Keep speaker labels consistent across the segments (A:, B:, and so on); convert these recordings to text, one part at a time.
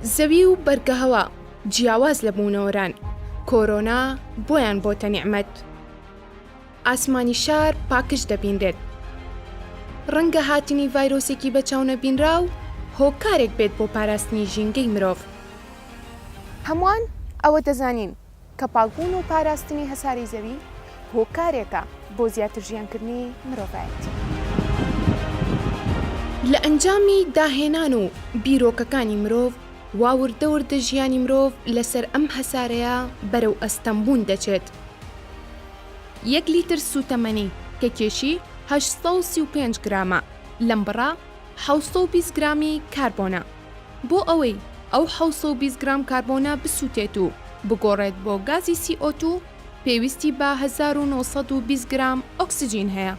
A: زەوی و بەرگەهەوا جیاواز لە بوونەوەران، کۆرۆنا بۆیان بۆتە نیعمەت. ئاسمانی شار پاکژ دەبینرێت. ڕەنگە هاتنی ڤایرۆسێکی بە چاونەبینراو هۆکارێک بێت بۆ پاراستنی ژینگەی مرۆڤ. هەمووان ئەوە دەزانین کە پاکبوون و پاراستنی هەسارەی زەوی هۆکارێکە بۆ زیاتر ژیانکردنی مرۆڤایەتی. لە ئەنجامی داهێنان و بیرۆکەکانی مرۆڤ وا وردە وردە ژیانی مرۆڤ لەسەر ئەم هەسارەیە بەرەو ئەستەمبوون دەچێت. یەک لیتر سووتەمەنی کە کێشی هەشت سەد و سی و پێنج گرامە، لەم بڕە حەوت سەد و بیست گرامی کاربۆنە. بۆ ئەوەی ئەو حەوت سەد و بیست گرام کاربۆنە بسووتێت و بگۆڕێت بۆ گازی سی ئۆ توو، پێویستی بە هەزار و نۆ سەد و بیست گرام ئۆکسجین هەیە.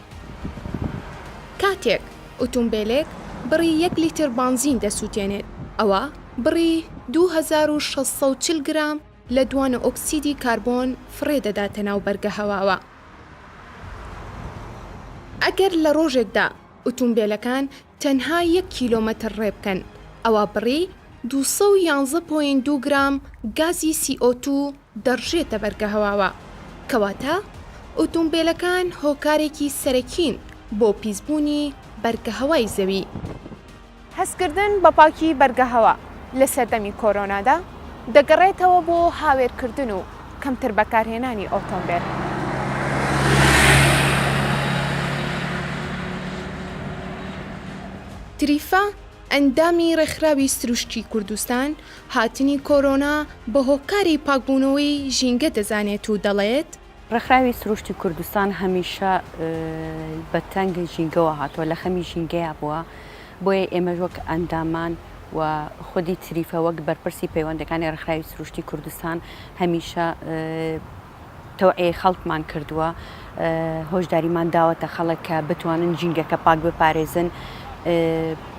A: کاتێک ئوتومبێلێک بڕی یەک لیتر بانزین دەسووتێنێت، ئەوا بڕی دوو هەزار و شەش سەد و چل گرام لە دوانە ئۆکسیدی کاربۆن فڕێ دەداتە ناو بەرگە هەواوە. ئەگەر لە ڕۆژێکدا ئوتومبێلەکان تەنها یەک کیلۆمەتر ڕێ بکەن ئەوا بڕی دوو سەد و یازدە پۆینت دوو گرام گازی سی ئۆ توو دەڕژێتە بەرگەهەواوە، کەواتە ئوتومبێلەکان هۆکارێکی سەرەکین بۆ پیسبوونی بەرگەهەوای زەوی. هەستکردن بە پاکی بەرگەهەوا لە سەردەمی کۆرۆنادا دەگەڕێتەوە بۆ هاوێرکردن و کەمتر بەکارهێنانی ئۆتۆمبێل. تریفا، ئەندامی ڕێکخراوی سروشتی کوردستان، هاتنی کۆرۆنا بە هۆکاری پاکبوونەوەی ژینگە دەزانێت و دەڵێت، ڕێکخراوی سروشتی
B: کوردستان هەمیشە بە تەنگ ژینگەوە هاتووە، لە خەمی ژینگەیا بووە، بۆیە ئێمەش وەک ئەندامان و خودی تریفە وەک بەرپرسی پەیوەندەکانی ڕێکخراوی سروشتی کوردستان هەمیشە تەوعیەی خەڵکمان کردووە هۆشداریمان داوەتە خەڵک کە بتوانن جینگەکە پاک بپارێزن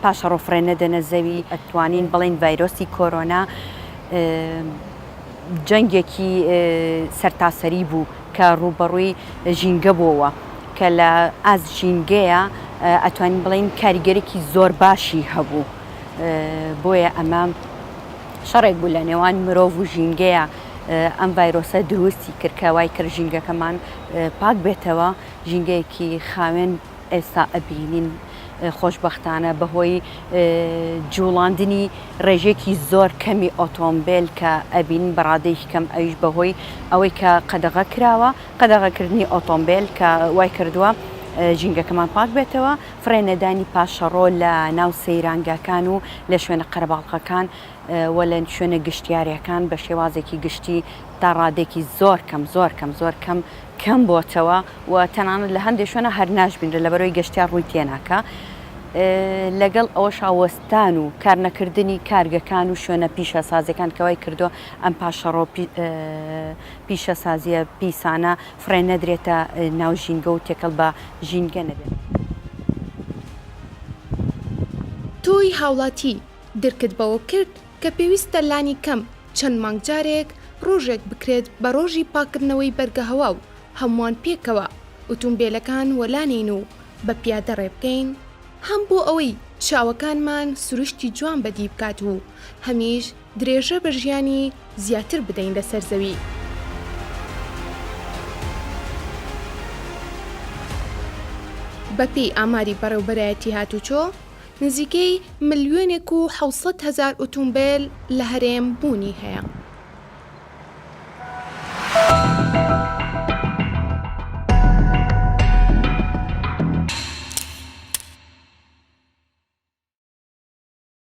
B: پاشە ڕۆفرێن نەدەنە زەوی ئەتوانین بڵین ڤایرۆسی کۆرۆنا جەنگێکی سەرتاسەری بوو کە ڕووبەڕووی ژینگە بۆوە کە لە ئاست ژینگەیە ئەتوانین بڵێین کاریگەرێکی زۆر باشی هەبوو بۆیە ئەمە شەڕێک بوو لە نێوان مرۆڤ و ژینگەیە ئەم ڤایرۆسە دروستی کرد کە وای کرد ژینگەکەمان پاک بێتەوە ژینگەیەکی خاوێن ئێستا ئەبینین خۆشبەختانە بەهۆی جوڵاندنی ڕێژەیەکی زۆر کەمی ئۆتۆمبێل کە ئەبینین بەڕادەیەکی کەم ئەویش بەهۆی ئەوەی کە قەدەغە کراوە قەدەغەکردنی ئۆتۆمبێل کە وای کردووە ژینگەکەمان پاک بێتەوە فرێنەدانی پاشەڕۆ لە ناو سەیرانگاکان و لە شوێنە قەرەباڵخەکان و لە شوێنە گشتیارەکان بە شێوازێکی گشتی تا ڕادەیەکی زۆر کەم زۆر کەم زۆر کەم کەم بۆتەوە و تەنانەت لە هەندێ شوێنە هەر ناشبینرێت لەبەرەوەی گەشتیار ڕووی تێناکا لەگەڵ ئەوەشا وەستان و کارنەکردنی کارگەکان و شوێنە پیشەسازیەکان کەوای کردو ئەم پاشەڕۆ پیشەسازیە پیسانە فڕێ نەدرێتە ناو ژینگە و تێکەڵ بە ژینگە نەبێت.
A: تۆی هاوڵاتی، درکت بەوە کرد کە پێویستە لانی کەم چەند مانگ جارێک ڕۆژێک بکرێت بە ڕۆژی پاککردنەوەی بەرگەهەوا و هەمووان پێکەوە ئوتومبێلەکان وەلانێین و بە پیادە ڕێ بکەین، هەم بۆ ئەوەی چاوەکانمان سروشتی جوان بەدی بکات و هەمیش درێژە بە ژیانی زیاتر بدەین لەسەر زەوی. بەپێی ئاماری بەڕێوبەرایەتی هاتوچۆ، نزیکەی ملیۆنێک و حەوت سەد هەزار ئوتومبێل لە هەرێم بوونی هەیە.